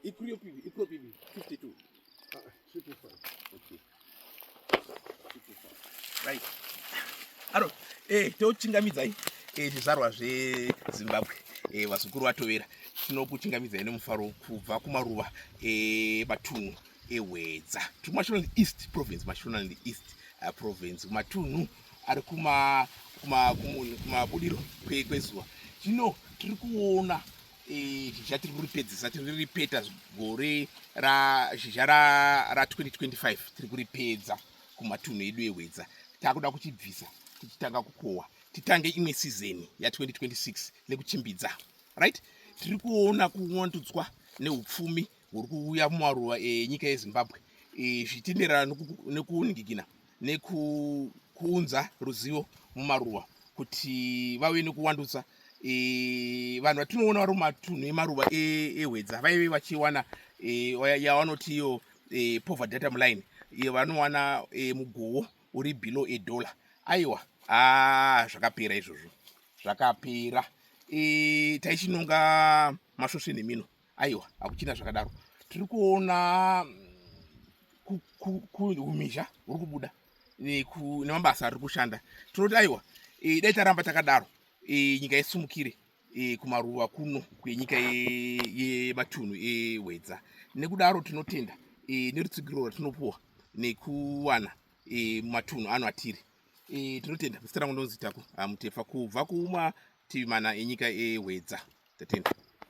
Ikrio pibi, ikrio pibi, 52. Ah, 55. Okay. 55. Right. Aro, eh, tochingamidza hii. Eh, zvizvarwa zveZimbabwe. Eh, vazukuru vatovera. Tinokuchingamidzai nemufaro kubva kumaruva eh, matunhu. ehwedza tiri kumashonaland east province mashonaland east uh, province kumatunhu ari kumabudiro kwezuva zvino tiri kuona e, zhizha tiri kuripedzisa tiri kuripeta gore zhizha ra2025 tiri kuripedza kumatunhu edu ehwedza takuda kuchibvisa tichitanga kukohwa titange imwe sizeni ya2026 nekuchimbidza right tiri kuona kuwandudzwa neupfumi huri kuuya mumaruva enyika yezimbabwe zvichitenderana nekuningikina nekuunza ruzivo mumaruva kuti vave nekuwandutsa vanhu vatinoona vari mumatunhu emaruva ehwedza vaive vachiwana yavanoti iyo pover data muline iyo vanowana mugowo uri below edollar aiwa a zvakapera izvozvo zvakapera taichinonga masvosve nemino aiwa hakuchina zvakadaro tiri kuona kuhumizha huri kubuda nemabasa ari kushanda tinoti aiwa e, dai taramba takadaro e, nyika yesumukire e, kumaruva kuno kwenyika yematunhu ehwedza nekudaro tinotenda nerutsigiro ratinopuwa nekuwana matunhu ano atiri tinotenda zita rangu ndonzi taku mutefa kubva kumativi mana enyika ehwedza tatenda